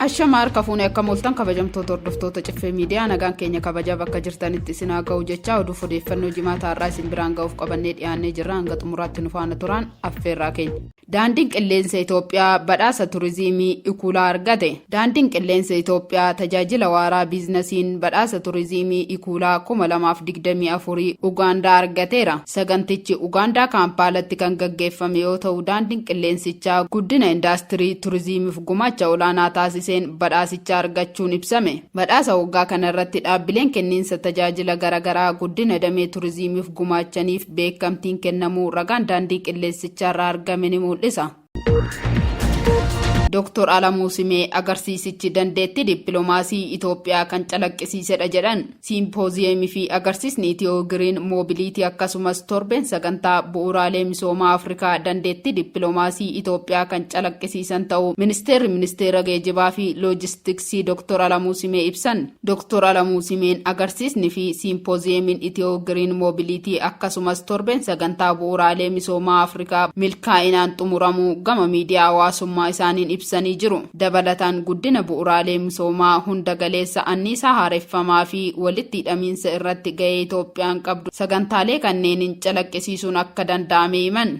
Ashama harka fuunee akka mooltan kabajamtoota hordoftoota ciffee miidiyaa nagaan keenya kabajaa bakka jirtanitti isin haa ga'u jechaa oduuf odeeffannoo jimaata har'aa isin biraan ga'uuf qabannee dhiyaannee jirra hanga xumuraatti nu faana turaan affeerraa keenya. Daandiin Qilleensa Itoophiyaa badhaasa Turiziimii Ikuulaa argate. Daandiin Qilleensa Itoophiyaa tajaajila waaraa biiznasiin badhaasa Turiziimii Ikuulaa 2024 Ugaandaa argateera. Sagantichi Ugaandaa Kaampaalatti kan gaggeeffame yoo ta'u daandiin qilleensichaa guddina indaastirii Turiziimiif gumaacha olaanaa taasiseen badhaasicha argachuun ibsame. Badhaasa waggaa kanarratti dhaabbileen kenniinsa tajaajila garagaraa guddina damee Turiziimiif gumaachaniif beekamtiin kennamuu ragaan daandii qilleensicharraa argame ni mul'isa. Dooktor Alamuu Simee agarsiisichi dandeettii dippiloomaasii Itoophiyaa kan calaqqisiisedha jedhan. Siimpooziyeemii fi agarsiisni Itiyoo Giriin Moobiliitii akkasumas torbeen sagantaa bu'uuraalee misoomaa Afrikaa dandeettii dippiloomaasii Itoophiyaa kan calaqqisiisan ta'uu Ministeerri Ministeera Geejibaa fi Loojistiksii Sii Doktor Alamuu Simee ibsan. Doktor Alamuu Simeen agarsiisni fi Siimpoziyeemiin Itiyoo Giriin Moobiliitii akkasumas torbeen sagantaa bu'uuraalee misoomaa Afrikaa milkaa'inaan xumuramuu gama miidiyaa hawaasummaa isaaniin ibsanii jiru. Dabalataan guddina bu'uuraalee misoomaa hunda galeessa anniisaa haareffamaa fi walitti hidhamiinsa irratti gahee Itoophiyaan qabdu sagantaalee kanneeniin calaqqisiisuun akka danda'ame himan.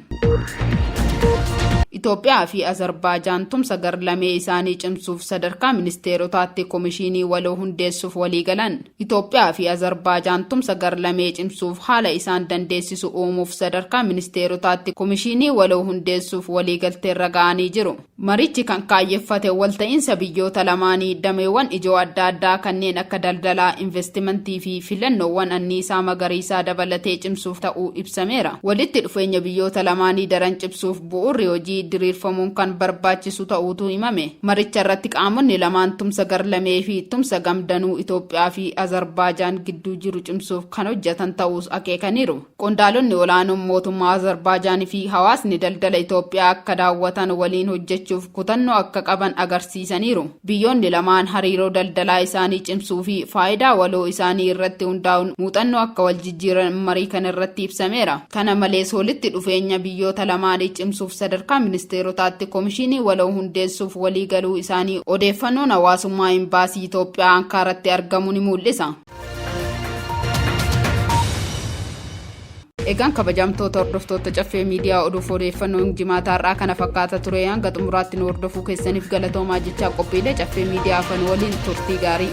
Itoophiyaa fi Azarbaajaan tumsa gar-lamee isaanii cimsuuf sadarkaa ministeerotaatti komishiinii waloo hundeessuuf waliigalan. Itoophiyaa fi Azarbaajaan tumsa gar-lamee cimsuuf haala isaan dandeessisu uumuuf sadarkaa ministeerotaatti komishiinii waloo hundeessuuf waliigalteerra ga'anii jiru. Marichi kan kaayyeffate walta'iinsa biyyoota lamaanii dameewwan ijoo adda addaa kanneen akka daldalaa, investimentii fi filannoowwan anniisaa magariisaa dabalatee cimsuuf ta'uu ibsameera. Walitti dhufeenya biyyoota lamaanii daran cimsuuf bu'uurri hojii diriirfamuun kan barbaachisu ta'uutu himame. Maricha irratti qaamonni lamaan tumsa gar-lamee fi tumsa gam-danuu Itoophiyaa fi Azarbaajaan gidduu jiru cimsuuf kan hojjetan ta'uus akeekaniiru. Qondaalonni olaanoon mootummaa Azarbaajaan fi hawaasni daldala Itoophiyaa akka daawwatan waliin hojjechuuf kutannoo akka qaban agarsiisaniiru. Biyyoonni lamaan hariiroo daldalaa isaanii cimsuu fi faayidaa waloo isaanii irratti hundaa'uun muuxannoo akka wal jijjiiran marii kana irratti ibsameera. Kana malees walitti dhufeenya biyyoota lamaanii cimsuuf sadarkaa ministeerotaatti komishiinii waloo hundeessuuf walii galuu isaanii odeeffannoon hawaasummaa Imbaasii Itoophiyaa Ankaaratti argamu ni muul'isa. Egaan kabajamtoota hordoftoota caffee miidiyaa oduuf odeeffannoon jimaataa har'aa kana fakkaata ture hanga xumuraatti nu hordofuu keessaniif galatoomaa jechaa qophiilee caffee miidiyaa afan waliin turtii gaarii.